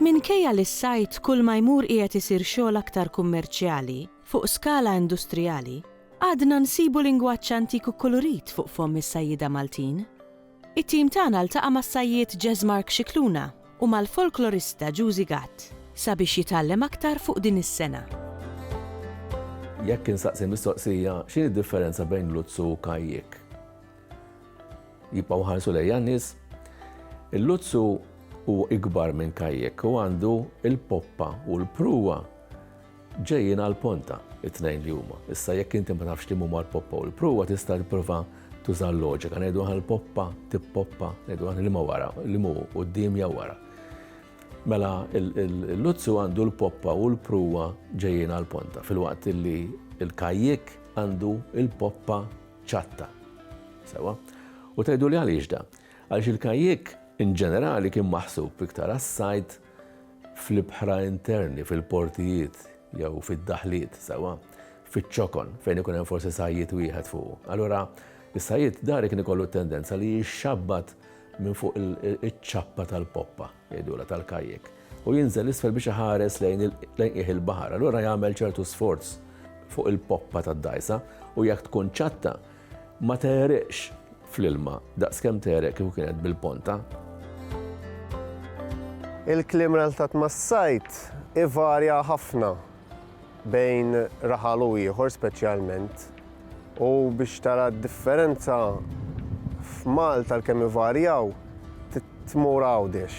Minkejja li s-sajd kull ma jmur qiegħed isir xogħol aktar kummerċjali, fuq skala industrijali, għadna nsibu lingwaġġ antik u kkulurit fuq fomm is-sajjieda Maltin. It-tim tagħna ltaqa' mas-sajjied Jazz Mark Scicluna u mal-folklorista Juzi Gatt sabiex jitgħallem aktar fuq din is-sengħa. Jekk insaqsi l-mistoqsija, x'inhi d-differenza bejn luzzu u kajjik? Jibqgħu jħarsu lejja n-nies. Il-luzzu hu ikbar minn kajjik u għandu l-poppa u l-pruwa Ġejjin għal Ponta, it-tnejn li huma. Issa jekk inti ma tafx liema huma l-poppa u l-pruwa tista' tipprova tuża l-loġika. Ngħidu aħna l-poppa, tippoppa, ngħidu aħna liema wara, liema hu quddiem jew wara. Mela l-luzzu għandu l-poppa u l-pruwa ġejjin għal Ponta filwaqt li l-kajjik għandu l-poppa ċatta. Sewa? U tgħidu li għaliex da? Għaliex il-kajjik in ġenerali kien maħsub iktar għas-sajd fl-ibħra interni, fil-portijiet jew fid-daħliet sewwa fiċ-ċokon fejn ikun hemm forsi sajjied wieħed fuqu. Allura is-sajjied dari kien ikollu t-tendenza li jixxabbat minn fuq iċ-ċappa tal-poppa, jgħidula tal-kajjek, u jinżel isfel biex iħares lejn qiegħ il-baħar. Allura jagħmel ċertu sforz fuq il-poppa tad-dgħajsa u jekk tkun ċatta, Ma tegħreqx fl-ilma daqskemm tegħreq kieku kienet bil-ponta. Il-kliem relatat mas-sajd ivarja ħafna bejn raħal u ieħor speċjalment u biex tara d-differenza f'Malta għalkemm ivarjaw Tmur Għawdex,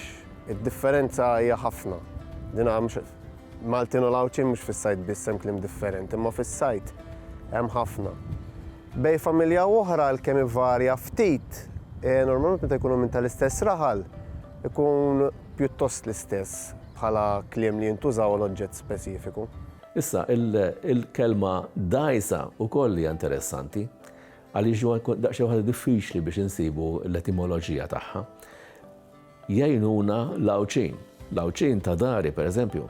id-differenza hija ħafna. Din mhux Maltin u l-Għawdxin mhux fis-sajd biss hemm kliem differenti, imma fis-sajd hemm ħafna. Bejn familja u oħra għalkemm ivarja ftit, normalment meta jkunu minn tal-istess raħal, ikun pjuttost l-istess bħala kliem li jintużaw għal oġġett speċifiku. Issa, il-kelma dgħajsa wkoll hija interessanti. Għaliex huwa daqsxejn waħda diffiċli biex insibu l-etimoloġija tagħha. Jgħinuna l-Għawdxin. L-Għawdxin ta' dari, pereżempju,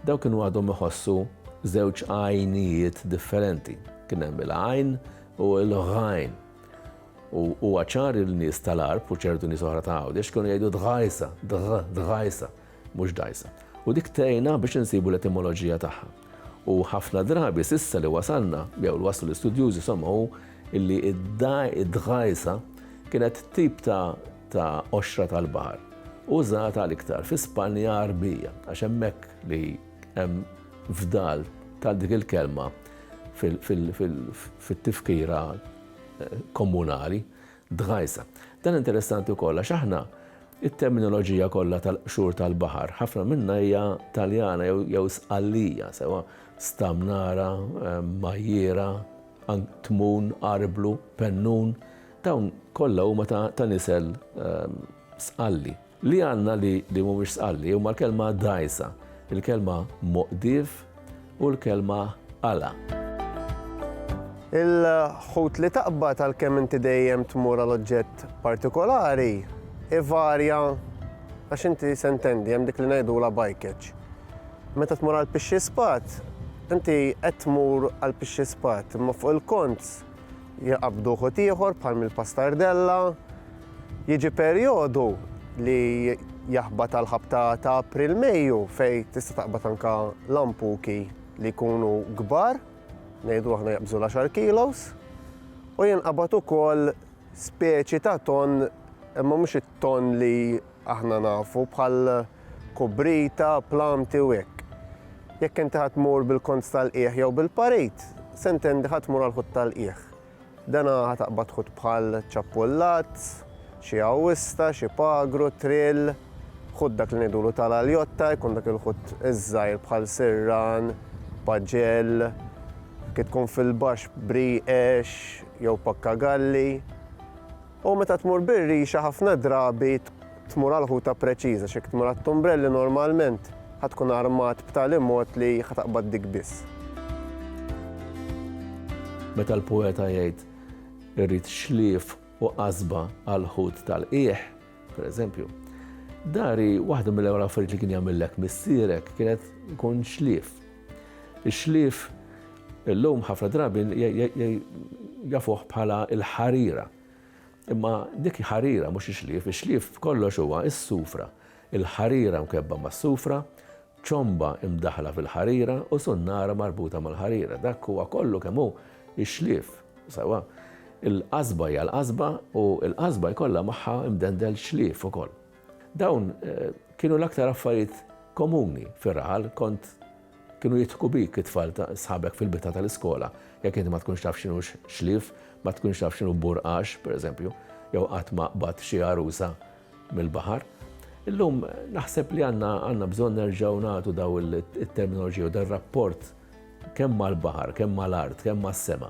dawk kienu għadhom iħossu żewġ għajnijiet differenti. Kien hemm il-għajn u l-ghajn. U huwa ċar il-nies tal-arb u ċertu nies oħra ta' għawdex kienu jgħidu dħajsa, dħajsa, mhux dajsa. U dik tgħinna biex insibu l-etimoloġija tagħha. U ħafna drabi s'issa li wasalna, jew li waslu l-istudjużi insomma hu illi d-dgħajsa kienet tip ta' ta' qoxra tal-baħar użata l-iktar fi Spanja Għarbija għax hemmhekk li hemm fdal ta' dik il-kelma fit-tifkira komunali. Dgħajsa. Dan interessanti wkoll għax aħna it-terminoloġija kollha tal-qxur tal-baħar, ħafna minnha hija Taljana jew jew Sqallija, sewwa Stamnara, Majjiera, Tmun, Arblu, Pennun, dawn kollha huma ta' nisel Sqalli. Li għandna li li mhumiex sqalli huma l-kelma dgħajsa, il-kelma moqdif u l-kelma għala. Il-ħut li taqbad għalkemm inti dejjem tmur għal oġġett partikolari ivarja għax inti se ntendi hemm dik li ngħidulha bajkeġġ. Meta tmur għal pixxi spat, inti qed tmur għal pixxi spat, imma fuq il-kont Jqabbdu ħut ieħor bħal mill-pastardella. Jiġi perjodu li jaħbat għal ħabta ta' April Mejju fejn tista' taqbad anke lampuki li jkunu kbar, ngħidu aħna jaqbżu l-għaxar kilos, u jinqabad ukoll speċi ta' tonn imma mhux it-tonn li Aħna nafu bħal kubrita, plamti u hekk. Jekk inti ħa tmur bil-konz tal-qiegħ jew bil-parit, se ntendi ħa tmur għall-ħut tal-qiegħ. Dana ħa taqbad ħut bħal ċappullat, xi għawista, xi pagru, trill, ħut dak li ngħidulu tal-aljotta, jkun dak il-ħut iż-żgħir bħal sirran, paġell, kif tkun fil-baxx brieqex jew pakkagalli. U meta tmur bir-rixa ħafna drabi tmur għal ħuta preċiża, x'jekk tmur għat-tumbrelli normalment ħa tkun armat b'tali mod li ħa taqbad dik biss. Meta l-poeta jgħid irrid xlief u qasba għall-ħut tal-qiegħ, pereżempju, dari waħda mill-ewwel affarijiet li kien jagħmillek missierek kienet ikun xlief. Ix-xlief illum ħafna drabi jafuh bħala l-ħarira. Imma dik ħarira mhux ix-xlief, ix-xlief b'kollox huwa s-sufra, il-ħarira mkebbha mas-sufra, ċomba mdaħħla fil-ħarira u sunnara marbuta mal-ħarira. Dak huwa kollu kemm hu x-xlief, sewwa. Il-qasba hija l-qasba u l-qasba jkollha magħha mdendel xlief ukoll. Dawn kienu l-aktar affarijiet komuni fir-raħal, kont kienu jidħku bik it-tfal ta' sħabek fil-bitħa tal-iskola, jekk inti ma tkunx taf x'inhu xlief, ma tkunx taf x'inhu burqax, pereżempju, jew qatt ma qbadt xi għarusa mill-baħar. Illum naħseb li għandna bżonn nerġgħu nagħtu daw it-terminoloġija u dar-rapport kemm mal-baħar, kemm mal-art, kemm mas-sema.